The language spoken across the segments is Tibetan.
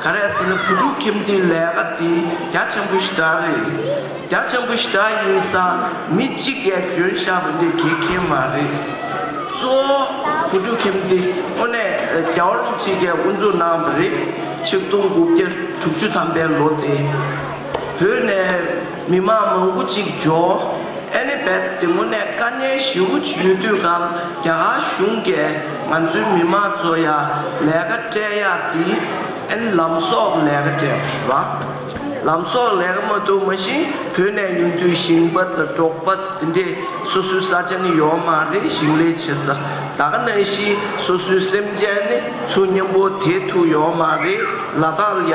ག་རེ་ཟེར་ན་བུ་ཕྲུག་ཁྱིམ་དེའི་ལས་ཀ་དེ་རྒྱ་ཆེན་པོ་ཞེ་དྲག་རེད། རྒྱ་ཆེན་པོ་ཞེ་དྲག་ཡིན་ས་མི་གཅིག་གས་འཇོན་བཞག་པ་འདི་དགེ་མཁན་མ་རེད། གཙོ་བོ་བུ་ཕྲུག་ཁྱིམ་དེ་དངོས་གནས་རྒྱ་བ་ལུག་གཅིག་གས་དབུ་འཛུགས་གནང་བ་རེད། ཆིག་སྟོང་དགུ་བརྒྱ་དྲུག་ཅུ་ཐམ་པའི་ལོ་དེ་བོད་ནས། མི་མང་མང་པོ་གཅིག་ཇོ་ཨེ་ལི་སྦེད་བདེ་མོ་ནས་དཀའ་ཉེན་ཞི་བོ་ཇི་ཡོད་དུས་གང་རྒྱ་གར་གཞུང་གས་ང་ཚོའི་མི་མང་ཚོ་ཡ་ལས་ཀ་སྤྲད་ཡག་དེ་ཨེ་ལམ་སོགས་ལས་ཀ་སྤྲད་པ། ལམ་སོགས་ལས་ཀ་མ་ཐུབ་མ་གཞི་བོད་ནས་ཡོང་དུས་ཞིང་པ་དང་འབྲོག་པ་དེ་འདྲས་སོ་སོའི་ས་ཆ་ནི་ཡོད་མ་རེད་ཞིང་ལས་བྱེད་ས་ད་ག་ན་གཞི་སོ་སོའི་སེམས་ཅན་ནི་ཚོ་མཉམ་པོ་དེ་ཐུག་ཡོད་མ་རེད་ལ་དྭགས་ཡ།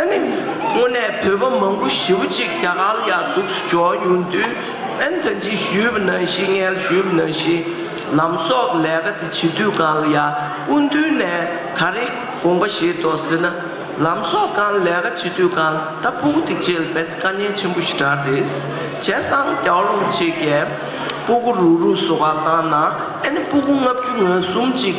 ཨ་ནི། དངོས་གནས་བོད་པ་མང་པོ་ཞི་བ་ཅིག་རྒྱ་གར་ཡར་འདུག་ཏུ་འཇོག་ཡོང་དུས་ཨན་ཐ་ཇི་ཞུས་པ་ན་ཞི་མངལ་ཞུས་པ་ན་ཞི། ལམ་སོགས་ཀྱི་ལས་ཀ་དེ་བྱེད་དུས་གང་ལ་ཡར་སྐུ་མདུན་ནས་ག་རེ་དགོངས་པ་བཞེས་དོ་ཟེར་ན། ལམ་སོགས་གང་ལ་ལས་ཀ་བྱེད་དུས་གང་ལ་ད་སྤུ་གུ་ཐིག་བྱེད་ལ་བས་ཚེ་དཀའ་ཉེན་ཆེན་པོ་ཞིག་གྲགས་རེས་བྱས་སང་རྒྱའོ་ལུང་ཆེ་གས་སྤུ་གུ་རུག་རུག་བཟོ་བ་བཏང་ན་ཨ་ནི་སྤུ་གུ་ལྔ་བཅུ་ང་གསུམ་ཅིག་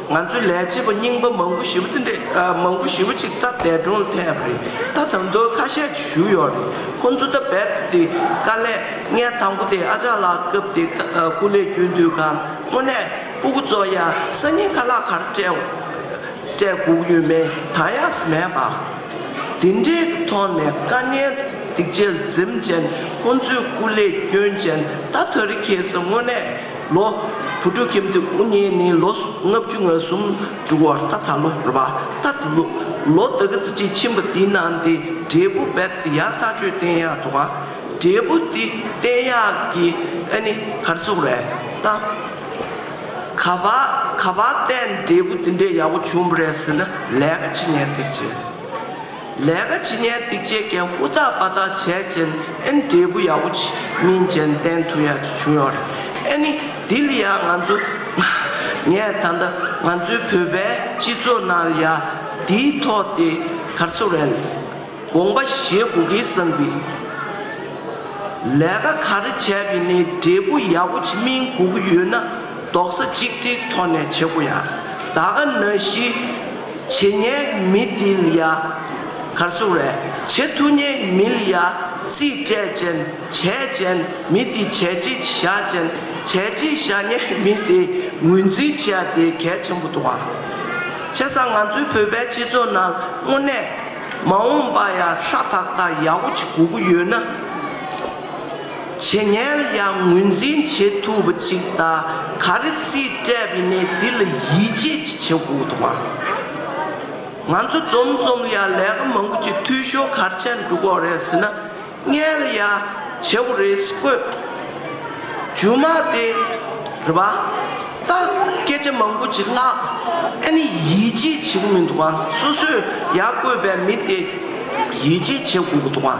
ང་ཚོའི་ལས་བྱེད་པ་རྙིང་པ་མང་པོ་ཞི་བ་འདི་འདྲ་མང་པོ་ཞི་བ་ཅིག་ད་འདས་གྲོངས་ཐེབས་རེད་ད་དང་དོད་ཁ་ཤས་ཀྱི་བཞུགས་ཡོད་རེད་ཁོང་ཚོ་ད་རྦད་དེ་དཀའ་ལས་ངས་དང་པོ་དེ་ཨ་ཅག་ལགས་སྐབས་དེ་སྐུ་ལས་རྒྱུན་དུས་གང་དངོས་གནས་སྤུ་གུ་ཙོ་ཡ་ས་སྙིང་ཁ་ལག་ཁར་སྤྲད་སྒུག་ཡོད་མེད་གང་ཡག་སི་མེད་པ། དེ་འདྲའི་ཐོག་ནས་དཀའ་ངལ་སྡིག་དཔྱད་འཛེམ་ཅན་ཁོང་ཚོའི་སྐུ་ལས་རྒྱུན་ཅན་ད་ད་རི་ཁེ་སི་དངོས་གནས། ལོ། བུ་ཕྲུག་ཁྱིམ་དུ་དབུ་བརྙེས་ནས་ལོ་ལྔ་བཅུ་ང་གསུམ་དྲུག་བར་ད་ཚ་ལོ་ར་བ་ད་དུ་ལོ། ལོ་དགུ་བརྩི་བྱའི་ཁྱིམ་པ་དེའི་ནང་དེ་འབྲས་བུ་རྦད་དེ་ཡག་ཚ་ཆོས་བསྟན་ཡག་དོ་ག་འབྲས་བུ་དེ་བསྟན་ཡག་གི་ཨ་ནི་གར་སོག་རེད་ད། ག་བ་ག་བ་བསྟན་འབྲས་བུ་དེ་འདྲའི་ཡག་པོ་བྱུང་བ་རེད་ཟེར་ན་ལས་ཀ་ཅི་ནས་ཐེག་ཆེ། ལས་ཀ་བྱེད་ཉལ་འདེགས་བྱེད་མཁན་ཧུར་ཐག་པ་ཐག་བྱས་རྗེས་ཨེ་ནི་འབྲས་བུ་ཡག་པོ་ཅི་མིན་རྗེས་བསྟན་ཐུག་ཡག་ཅིག་བྱུང་ཡོད་རེད་ཨེ་ནི་དེ་ལ་ཡང་ང་ཚོ་ངས་ད་ལྟ་ང་ཚོའི་བོད་པའི་སྤྱི་ཚོགས་ནང་ལ་ཡ་འདིའི་ཐོག་དེ་གར་སོ་རན་དགོངས་པ་བཞེས་དགོས་ཀི་བསམ་གི་ལས་ཀ་ག་རེ་བྱས་པས་ནི་འབྲས་བུ་ཡག་པོ་ཅི་མིན་དགོས་ཀི་ཡོད་ན་རྡོག་ས་གཅིག་སྒྲིལ་ཐོག་ནས་བྱེད་དགོས་ཡ་ད་ག་ན་གཞི། བྱེད་སྙེག་མི་དིལ་ཡ། གར་སོང་རས་བྱེད་ཐུ་སྙེག་མིལ་ཡ། རྩིས་སྤྲད་ཅན་བྱས་ཅན་མི་དིལ་བྱས་རྗེས་བཞག་ཅན་བྱས་རྗེས་བཞག་སྙེག་མི་དེ་ངོས་འཛིན་བྱེད་ཡ་དེ་གལ་ཆེན་པོ་འདུག་ཨང། བྱས་ཙང་ང་ཚོའི་བོད་པའི་སྤྱི་ཚོགས་ནང་དངོས་གནས་མ་འོངས་པ་ཡ་ཧྲ་ཐག་ཐག་ཡག་པོ་ཅིག་དགོས་ཀྱི་ཡོད་ན། བྱེད་ངལ་ཡང་ངོས་འཛིན་བྱེད་ཐུབ་པ་ཅིག་ད་ག་རེ་རྩིས་སྤྲད་པའི་གནས་འདི་ལ་ཡིད་ཆེས་ཀྱི་བྱེད་ཁུག་དུ་མ། ང་ཚོ་འཛོམས་འཛོམས་ཡ་ལས་ཀ་མང་པོ་ཅིག་འཐུས་ཤོར་གར་ཆད་འགྲོ་གོ་རེད་ཟེར་ན་ངལ་ཡ་བྱེད་པོ་རེད་བཀོད། རྒྱུ་མ་དེ་རེད་པ་ད་སྐད་ཆ་མང་པོ་ཅིག་ལྷག་ཨེ་ནི་ཡིད་ཆེས་བྱེད་ཀྱི་མི་འདུག་ང་སོ་སོས་ཡ་བཀོད་པའི་མི་དེ་ཡིད་ཆེས་བྱེད་ཁུག་དུ་མ།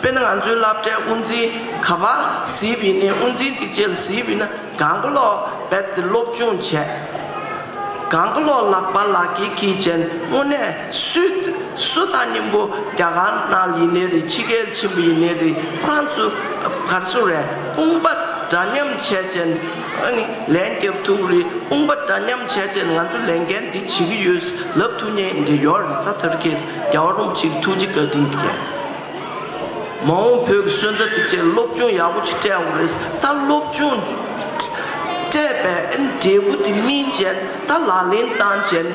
དཔེར་ན་ང་ཚོའི་བསླབ་གྲྭའི་དབུ་འཛིན་ག་པར་གཟིགས་པའི་ནས་དབུ་འཛིན་དེ་རྗེས་གཟིགས་པའི་ན་གང་གི་ལོག་པད་དེ་སློབ་སྦྱོང་བྱས། གང་གི་ལོག་ལག་པ་ལག་གི་ཁྱི་ཅན་དངོས་གནས་སུས་སུ་ད་སྙིང་པོ་རྒྱ་གར་ནག་ཡིན་ནའི་རེད་ཕྱི་རྒྱལ་ཆེན་པོ་ཡིན་ནའི་རེད་ཧྲང་ཚུ་གར་སུ་རེད་དཔུང་པ་འདྲ་མཉམ་བྱས་ཅན་ཨ་ནི་ལན་རྒྱབ་ཐུག་རེད་དཔུང་པ་འདྲ་མཉམ་བྱས་ཅན་ང་ཚོ་ལས་འགན་འདི་བྱེད་ཀྱི་ཡོད་ལབ་ཐུག་ཉན་འདི་ཡོད་རེད་ས་ཐར་ཁེས་རྒྱ་བ་རུམ་ཆིག་ཐུགས་རྗེ་བཀའ་དྲིན་རྒྱལ། མ་འོངས་བོད་ཀྱི་སོན་རྩ་དེ་ཆེད་སློབ་སྦྱོང་ཡག་པོ་ཅིག་སྤྲད་འོང་རེས་ད་སློབ་སྦྱོང་སྤྲད་པའི་འབྲས་བུ་དེ་སྨིན་རྗེས་ད་ལག་ལེན་བཏང་རྗེས་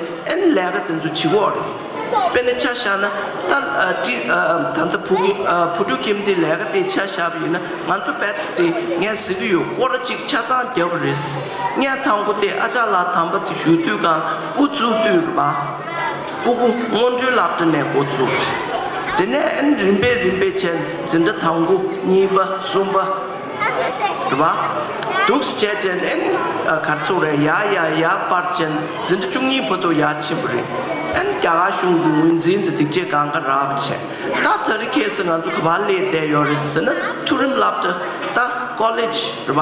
ལས་ཀ་དེ་ཚོ་བྱེད་འོང་རེས་དཔེ་ནས་ཆ་བཞག་ན་ད་ད་ལྟ་བུ་ཕྲུག་ཁྱིམ་དེ་ལས་ཀ་དེ་ཆ་བཞག་པ་ཡིན་ན་ང་ཚོ་དཔལ་ཐུབ་དེ་ངས་ཟེར་གྱི་ཡོད་སྐོར་ཅིག་ཆ་ཚང་བརྒྱབ་པ་རེས་ངས་ཐང་གོ་དེ་ཨ་ཅག་ལགས་དམ་པ་དེ་བཞུགས་དུས་ཁང་དབུ་བཙུགས་དུས་ལ། སྤུ་གུ་སྔོན་འགྲོའི་ལག་ཏུ་ནས་འགོ་བཙུགས། དེ་ནས་རིམ་པས་རིམ་པས་བྱས་འཛིན་གྲྭ་དང་པོ་གཉིས་པ་གསུམ་པ། དྲུག་པ། དུག་བྱས་བྱས་ནས་ཨན་གར་སོགས་རེ་ཡ་ཡ་ཡ་པར་བྱས་འཛིན་གྲྭ་བཅུ་གཉིས་བོ་དོ་ཡ་ཆེན་པོ་རེ་ཨན་རྒྱ་གར་གཞུང་གི་ངོས་འཛིན་དུ་སྡིག་སྤྱད་གང་ག་ར་བ་བྱས་ད་ད་རི་ཁས་སི་ང་ཚོ་ག་བ་ལས་བསྡད་ཡོད་རེད་ཟེར་ན་ཐུགས་རིམ་བསླབ་གྲྭ་ད་ཀོ་ལེ་ཇ་རེ་བ།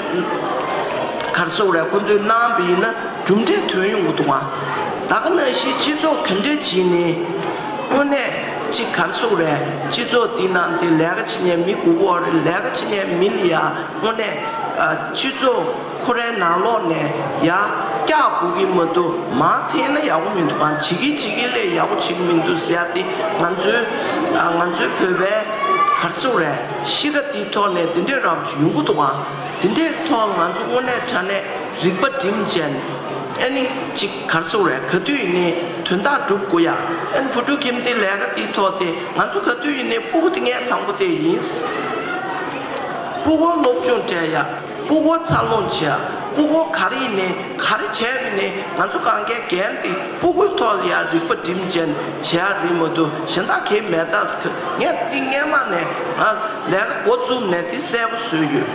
གར་བཙུགས་ར་ཁོ་ཚོའི་ནང་དུ་ཡིན་ན་གྲུབ་འབྲས་ཐོན་ཡོང་གི་འདུག་ད་ག་ན་གཞིས་སྤྱི་ཚོགས་དེ་འདྲའི་གྱིས་ནི་དངོས་གནས་གཅིག་གར་བཙུགས་རའི་སྤྱི་ཚོགས་དེའི་ནང་དེ་ལས་ཀ་བྱེད་ཉན་མི་དགུ་བོ་རེ་ལས་ཀ་བྱེད་ཉན་མི་ལ་ཡ་དངོས་གནས་སྤྱི་ཚོགས་ཁོ་རའི་ནང་ལོག་ནས་ཡ་སྐྱག་སྒུག་གི་མ་འདུག་མང་འཐེན་ན་ཡག་པོ་མི་འདུག་གང་བྱེད་ཀྱི་བྱེད་ཀྱི་ལས་ཡག་པོ་བྱེད་ཀྱི་མི་འདུག་ཟེར་ཡ་དེ་ང་ཚོའི་ང་ཚོའི་བོད་པའི་གར་བཙུགས་རའི། གཤིས་ཀ་དེའི་ཐོག་ནས་འདི་འདྲའི་རང་བྱུང་ཡོང་གི་འདུག་ཨང། འདི་འདྲའི་ཐོག་ང་ཚོ་དངོས་གནས་དྲ་གནས་རིག་པ་འགྲིམ་ཅན། ཨེ་ནི། ཅིག་གར་སོང་བས་ག་དུས་ཡིན་ནའི་དོན་དག་འགྲུབ་དགོས་ཡ། ཨེན་བུ་ཕྲུག་ཁྱིམ་དེའི་ལས་ཀ་དེའི་ཐོག་དེ་ང་ཚོ་ག་དུས་ཡིན་ནའི་ཕུག་གི་ཏིང་ངེ་དང་པོ་དེ་ཡིན། ཕུག་དབང་སློབ་སྦྱོང་བྲལ་ཡ། ཕུ་བོ་ཚར་ལོངས་བྱས་ཨ་ཕུ་བོ་ག་རེ་ཡིན་ནས་ག་རེ་བྱས་རེད་ནས་ང་ཚོ་གང་གས་གན་དེ་ཕུ་བོའི་ཐོག་ལ་ཡར་རིག་པ་འགྲིམ་ཅན་བྱས་ཨ་རེད་མོད་དུ་གཞན་དག་གིས་མེད་ད་སྐུ་ངས་ཏིང་ངེ་མ་ནས་ཨ་ལས་ཀ་འགོ་བཙུགས་ནས་དེ་གསལ་པོ་བཟོས་ཡོད་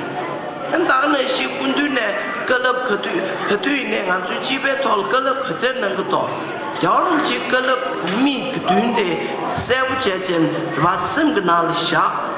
དེ་འདང་ནས་གཞིས་སྐུ་མདུན་ནས་བཀའ་སླབ་ག་དུས་ག་དུས་ཡིན་ནས་ང་ཚོའི་སྤྱི་པའི་ཐོག་ལ་བཀའ་སླབ་ག་ཚད་གནང་གི་དོག་རྒྱ་བ་རུང་ཆེ་བཀའ་སླབ་མིག་བདུན་དེ་གསལ་པོ་བྱས་ཅན་རེ་བ་སེམས་ཀྱི་ནང་ལ་བཞག།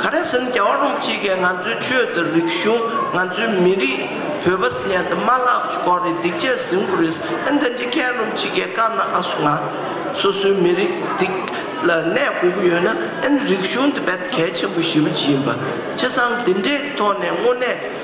ག་རེ་ཟིན་རྒྱ་བ་རུང་གཅིག་གིས་ང་ཚོའི་ཆོས་དང་རིག་གཞུང་ང་ཚོའི་མི་རིགས་བོད་པ་ཟིན་ཡ་དེ་མ་ལག་གི་སྐོར་རེད་སྡིག་ཆས་ཟིན་དགོས་རེད་ཨེ་འདི་འདྲའི་མཁས་རློམ་གཅིག་གིས་བཀའ་གནང་ཨ་སུ་ང་སོ་སོའི་མི་རིགས་སྡིག་ལ་གནས་དགོས་ཀྱི་ཡོད་ན་ཨེ་རིག་གཞུང་དེ་བད་གལ་ཆེན་པོ་ཞེ་བོ་ཅི་ཡིན་པ་ཁྱེད་ཚང་འདི་འདྲའི་ཐོག་ནས་དངོས་གནས།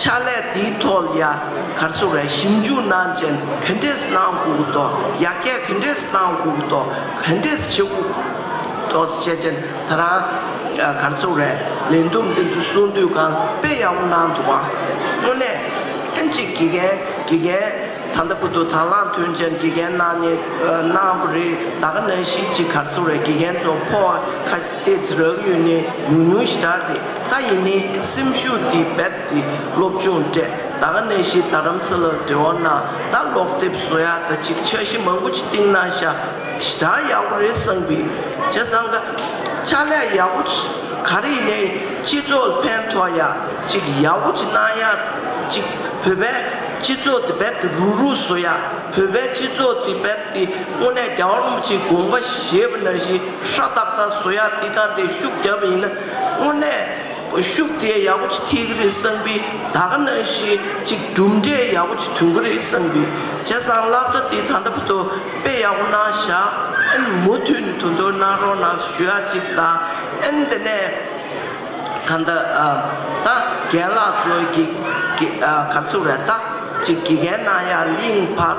ཕྱག་ལས་དེའི་ཐོག་ལ་ཡ་གར་སོ་བའི་ཞིབ་འཇུག་གནང་ཅན་གྷན་རེས་གནང་གུ་གུ་ཏོ་ཡ་ཀས་གྷན་རེས་གནང་གུ་གུ་ཏོ་གྷན་རེས་ཆེ་གུ་གུ་ཏོ་བཅས་ཅན་ད་རང་ཡ་གར་སོ་བའི་ལས་འདུམ་འདི་ཚོ་གསུང་དུས་གང་དཔེ་ཡག་པོ་གནང་འདུག་བ་དངོས་གནས་ཨེན་ཅིག་དགེ་རྒན་དགེ་རྒན་ད་ལྟ་བུ་དོ་དང་བླངས་ཐོན་ཅན་དགེ་རྒན་གནང་ནས་གནང་བ་རེད་ད་ག་ནང་གཞིས་བྱེས་གར་སོ་བའི་དགེ་རྒན་ཚོ་ཕོ་བ་ཁ་དེ་ཚེ་རགས་ཡུལ་ནས་ཉུང་ཉུང་ཞིག་གྲགས་ཏེ་ད་ཡིན་ནའི་སེམས་ཤུགས་དེ་རྦད་དེ་སློབ་ཆུང་བསྐྲད་ད་ག་ནས་ཤི་ད་རམ་ས་ལར་འབྲེལ་བ་ན་ད་ཀློག་དེབ་བཟོ་ཡག་ད་ཅིག་འཆར་གཞི་མང་པོ་ཅིག་བཏིང་ན་ཤ་ཞེ་དྲག་ཡག་པོ་རེད་བསམ་གི་བྱས་ཙང་ད་ཕྱག་ལས་ཡག་པོ་ག་རེ་ཡིན་ནའི་སྤྱི་ཚོགས་ལ་ཕན་ཐོག་ཡག་ཅིག་ཡག་པོ་ཅིག་གནང་ཡག་ཅིག་བོད་པའི་སྤྱི་ཚོགས་དེ་རྦད་དེ་རུག་རུག་བཟོ་ཡག་བོད་པའི་སྤྱི་ཚོགས་དེ་རྦད་དེ་དངོས་གནས་རྒྱ་བར་མོ་ཆེའི་དགོངས་པ་བཞེས་པ་ན་ཤི། ཤ་སྟག་དང་བཟོ་ཡག་འདི་དང་དེ་ཤུགས་རྒྱབ་ཡིན་ན་དངོས་གནས་ཤུགས་དེ་ཡག་པོ་ཅི་ཐིག་རེད་བསམ་པི་ད་ག་ན་ཞིག་གཅིག་གྲུབ་འབྲས་ཡག་པོ་ཅི་ཐུང་གི་རེད་བསམ་པི་བྱས་ཙང་བསླབ་གྲ་དེ་ད་ལྟ་བུ་དོ་དཔེ་ཡག་པོ་གནང་བཞག་ཨན་མུ་མཐུན་དུ་འདོར་གནང་རོགས་གནང་ཞུ་ཡག་ཅིག་དང་ཨན་དེ་ནས་ད་ད་ད་རྒན་ལགས་ཚོ་དགེ་ག་ཚོ་རེད་ད་ཅིག་དགེ་རྒན་གནང་ཡག་གླིང་བར་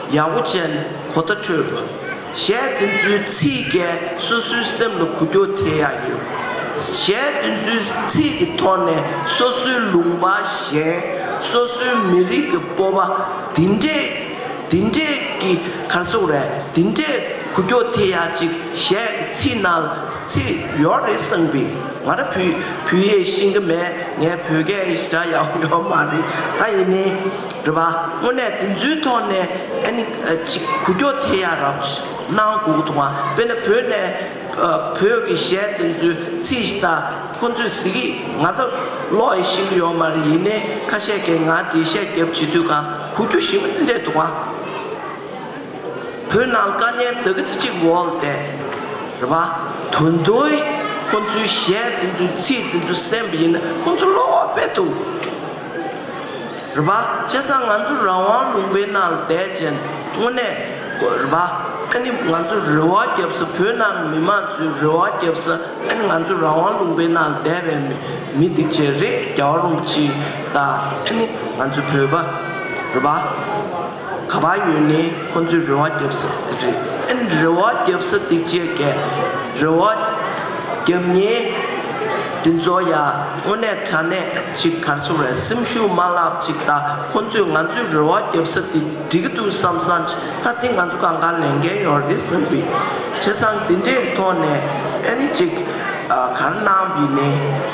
ཡ་བོ་ཅན་གོ་ད་ཁྲོས་པ། གཞས་འདི་ཚོའི་ཚིག་རྒྱལ་སོ་སོའི་སེམས་ལ་གུ་གྱོ་དེ་ཡ་ཡོད། གཞས་འདི་ཚོའི་ཚིག་གི་ཐོག་ནས་སོ་སོའི་ལུང་པ་གཞན། སོ་སོའི་མི་རིགས་ཀྱི་སྤོབས་པ་འདི་འདྲས་འདི་འདྲས་ཀྱི་གར་སོང་རེད་འདི་འདྲས་གུ་གྱོ་དེ་ཡ་ཅིག་གཞས་ཀྱི་ཚིག་ནང་ལ་ཚིག་ཡོད་རེད་བསམ་གི་ང་ར་བུ་བུ་ཡས་ཤིང་གི་མས་ངས་བོད་སྐད་ཞེ་དྲག་ཡག་པོ་ཡོད་མ་རེད་ད་ཡིན་ནའི། རེད་པ། དངོས་གནས་དེ་ཚོའི་ཐོག་ནས་ཨ་ནི་གཅིག་གུ་སྐྱོ་དེ་ཡ་རབ་གནང་དགོས་འདུག་དཔེར་ན་བོད་ནས་བོད་ཀྱི་གཞས་དེ་ཚོའི་ཚིག་ས་ཁོ་ཚོས་གཟིགས་ཀྱི་ང་ཚ་ལོག་ཡེ་ཤེས་ཡོད་མ་རེད་ཡིན་ནའི་ཁ་ཤས་ཀྱི་ང་དེ་བཤད་རྒྱབ་བྱེད་དུས་གང་གུ་སྐྱོ་ཞིག་མི་འདྲེ་འདུག་བ། བོད་ནང་དཀའ་ངལ་ད་གི་ཚི་གཅིག་འོག་དེ་རེད་པ། དོན་དུ་ཁོ་ཚོའི་གཞས་དེ་ཚོའི་ཚིག་དེ་ཚོ་གསན་པ་ཡིན་ན་ཁོ་ཚོ་ལོག་པའི་དུ། རེད་པ། བྱས་ཙང་ང་ཚོ་རང་དབང་ལུང་པའི་ནང་བསྡད་ཅན་དངོས་གནས་རེད་པ། ཨ་ནི་ང་ཚོ་རེ་བ་རྒྱབ་ས་བོད་ནང་མི་མང་ཚོའི་རེ་བ་རྒྱབ་ས་ཨ་ནི་ང་ཚོ་རང་དབང་ལུང་པའི་ནང་བསྡད་པའི་མི་སྡིག་ཅན་རེད་རྒྱ་བ་རུང་ཕྱི་དང་ཨ་ནི་ང་ཚོ་བོད་པ་རེད་པ། ག་པར་ཡོད་ནས་ཁོང་ཚོས་རེ་བ་བརྒྱབ་ས་དེ་རེད་ཨེ་རེ་བ་བརྒྱབ་ས་དེ་བཅས་ཀས་རེ་བ་བརྒྱབ་ཉེས་དེ་ཚོ་ཡང་དངོས་གནས་དྲ་གནས་ཅིག་གར་སོང་བས་སེམས་ཤུགས་མ་བརླག་ཅིག་ད་ཁོང་ཚོས་ང་ཚོས་རེ་བ་བརྒྱབ་ས་དེ་འགྲིག་གི་འདུག་བསམ་བསམ་ཅིག་ད་དེ་ང་ཚོ་གང་གང་ལས་འགལ་ཡོང་རེད་བསམ་པའི་བྱས་ཙང་དེ་འདྲའི་ཐོག་ནས་ཨེ་ཅིག་གར་སྣང་བས་ནས།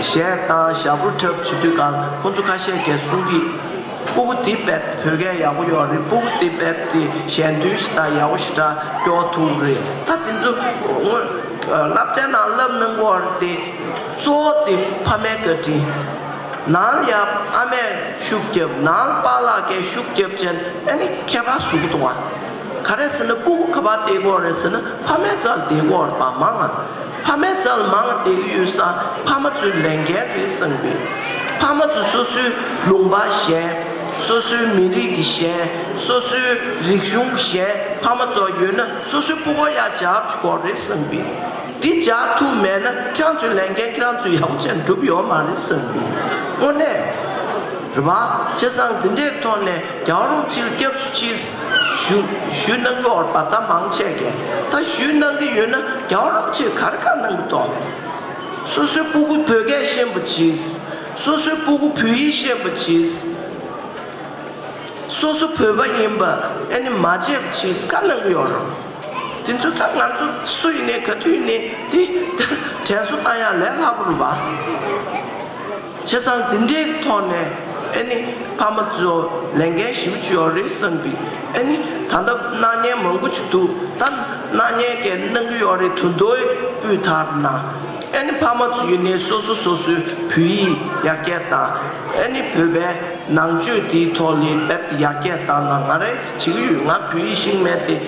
གཞས་གཏང་ཞྭ་བུ་འཁྲབ་བྱེད་དུས་ཀར་ཁོ་ཚོ་ཁ་ཤས་ཀྱིས་གསུང་གི། སྤུ་གུ་དེ་བེད་བོད་སྐད་ཡག་པོ་ཡོག་རེད་སྤུ་གུ་དེ་བེད་དེ་གཞན་དོན་ཞིག་དང་ཡག་པོ་ཞིག་དྲ་རྒྱོག་ཐུག་རེད་ད་དེ་ཚོ་དངོས་བསླབ་བྱ་ནང་བསླབ་གནང་དགོས་རེད་དེ་གཙོ་བོ་དེ་ཕ་མའི་བཀའ་དྲིན། ནང་ཡབ་ཨ་མས་ཤུགས་རྒྱབ་ནང་པ་ལག་སྐྱེས་ཤུགས་རྒྱབ་ཅན་ཨེ་ནི་ཁྱད་པར་ཟུག་གཏོང་བ། ག་རེ་ཟེར་ན་སྤུ་གུ་ག་པར་བསྡད་དགོས་རེད་ཟེར་ན་ཕ་མའི་རྩར་བསྡད་དགོས་རེད་པ་མང་ང། ཕ་མའི་རྩལ་ལ་མང་ལ་དད་གུས་ཡོད་ས་ཕ་མ་ཚོའི་ལས་འགན་རེད་བསམ་གི། ཕ་མ་ཚོས་སོ་སོའི་ལུང་པ་གཞན། སོ་སོའི་མི་རིགས་ཀྱི་གཞན། སོ་སོའི་རིག་གཞུང་གི་གཞན་ཕ་མ་ཚོ་ཡོད་ན་སོ་སོའི་སྤུ་ཀོ་ཡར་འཇགས་ཀྱི་སྐོར་རེད་བསམ་གི། དེ་འཇགས་ཐུབ་མེད་ན་ཁྱེད་རང་ཚོའི་ལས་འགན་ཁྱེད་རང་ཚོས་ཡག་པོ་བྱས་ན་འགྲུབ་ཡོད་མ་རེད་བསམ་གི། དངོས་གནས། རེ་བ། བྱས་ཙང་འདི་འདྲའི་ཐོག་ནས་རྒྱང་རུང་སྤྱིར་སྐྱབས་སུ་མཆི། ཞུ་གནང་གི་འོར་བ་དང་མང་ཆེ་གས་ད་ཞུས་གནང་གི་ཡོད་ན་རྒྱང་རུང་སྤྱིར་གར་ཁ་གནང་གི་དོག་མེད། སོ་སོའི་སྤུ་གུ་བོད་སྐད་ཤེས་པོ་གྱིས། སོ་སོའི་སྤུ་གུ་བོད་ཡིག་ཤེས་པོ་གྱིས། སོ་སོ་བོད་པ་ཡིན་པ་ཨེ་ནི་མ་བརྗེད་པོ་གྱིས་ཁ་གནང་གི་ཡོད་རུང། དེ་ཚོའི་ཐག་ང་ཚོ་སུ་ཡིན་ནའི་ག་དུས་ཡིན་ནའི་དེ་དྲན་གསོ་བཏང་ཡག་ལས་སླ་པོ་རུ་བ། བྱས་ཙང་འདི་འདྲའི་ཐོག་ནས་ཨེ་ནི་ཕ་མ་ཚོས་ལས་འགན་ཞིབ་བཅུ་ཡོད་རེད་བསམ་གི་ཨེ་ནི་ད་ལྟ་སྣང་བརྙན་མང་པོ་ཆུ་འདུག་ད་སྣང་བརྙན་འགའི་གནང་གི་ཡོད་རེད་དུ་འདོད་སྤུས་དག་ན་ཨེ་ནི་ཕ་མ་ཚོ་ཡུན་ནས་སོ་སོ་སོ་སོའི་བོད་ཡིག་ཡར་རྒྱས་དང་ཨེ་ནི་བོད་པའི་ནང་ཆོས་དེའི་ཐོག་ལས་འབད་ཡར་རྒྱས་དང་ལ་ང་རེད་ཅིག་ཡོད་ང་བོད་ཡིག་ཤིག་མེད་དེ།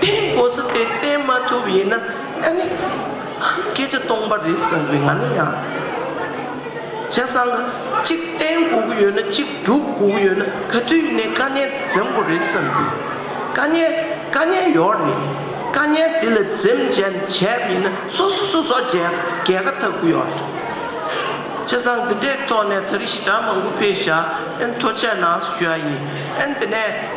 དེ་ནི་གོ་ས་དེ་བསྟན་མ་ཐུབ་ཡིན་ན་ཨ་ནི་སྐད་ཆ་སྟོང་པ་རེད་བསམ་གི་ང་ནི་ཡང་བྱས་སང་གཅིག་བསྟན་དགོས་ཀྱི་ཡོད་ན་གཅིག་སྒྲུབ་དགོས་ཀྱི་ཡོད་ན་ག་དུས་ནས་དཀའ་ཉེན་དེ་འཛེམ་དགོས་རེད་བསམ་གི་དཀའ་ཉེན་དཀའ་ཉེན་ཡོད་རེད་དཀའ་ཉེན་དེ་ལ་འཛེམ་བྱས་ནས་བྱས་པ་ཡིན་ན་སོ་སོ་སོ་སོ་རྒྱལ་རྒྱལ་ཁ་ཐག་པོ་ཡོད་རེད་བྱས་སང་འདི་འདྲའི་ཐོག་ནས་ད་རི་ཞི་དྲག་མང་པོ་ཕེ་བཞག་ཨན་མཐོ་ཆས་ནང་སུ་ཞུ་ཡ་ཡིན་ཨན་དེ་ནས།